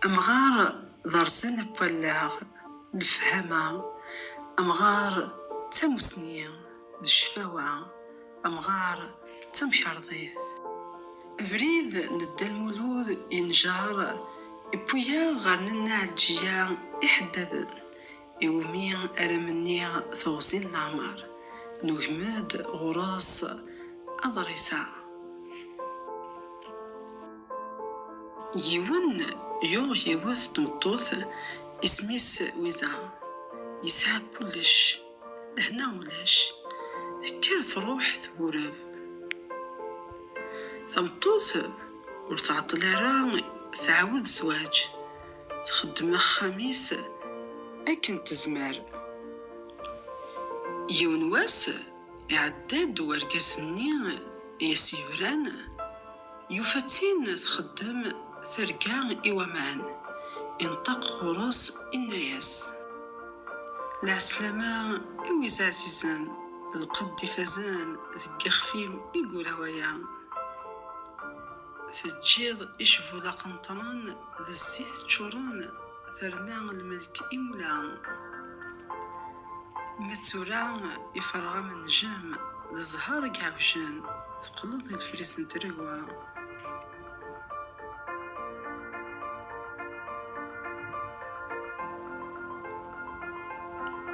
Amɣar d arẓan n wallaɣ, lefhama, amɣar d tamussni, d cfawa, amɣar d tamkarḍit. Abrid n Dda Lmulud yenjer, iwwi-yaɣ ɣer Nna Ɛelǧiya iḥeddaden. Iwumi ara menni teɣzi n leɛmer, nugem-d ɣur-s aḍris-a. Yiwen yuɣ yiwet tmeṭṭut isem-is Wiza, yesɛa kullec, lehna ulac, tekker truḥ tbureb. Tameṭṭut ur tɛeṭṭel ara tɛawed zwaǧ. Txeddem axxam-is akken tezmer. Yiwen wass, iɛedda-d wergaz-nni i as-yebran, yufa-tt-in txeddem targa i waman, ineṭṭeq ɣur-s inna-as, Lɛeslama i wid ɛzizen, lqedd ifazen deg yixef-im i yura waya. Teǧǧiḍ icbula qenṭren d zzit ččuren terna lmelk imula. Ma d tura iferreɣ am nnjem d zzher i iɛewjen teqqleḍ d idefris n tregwa.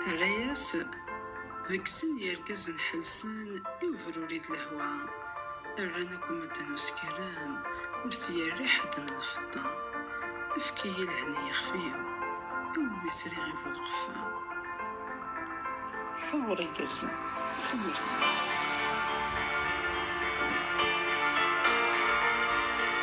Terra-yas, beggsen yirgazen ḥelsen i ubruri d lehwa. Rran akk medden uskalen, ur t-yerri ḥedd n lfeṭṭa. Efk-iyi lhen i yixef-iw, iwumi sriɣ i bu lqeffa. Taɣuri igerrzen a tamurt-iw.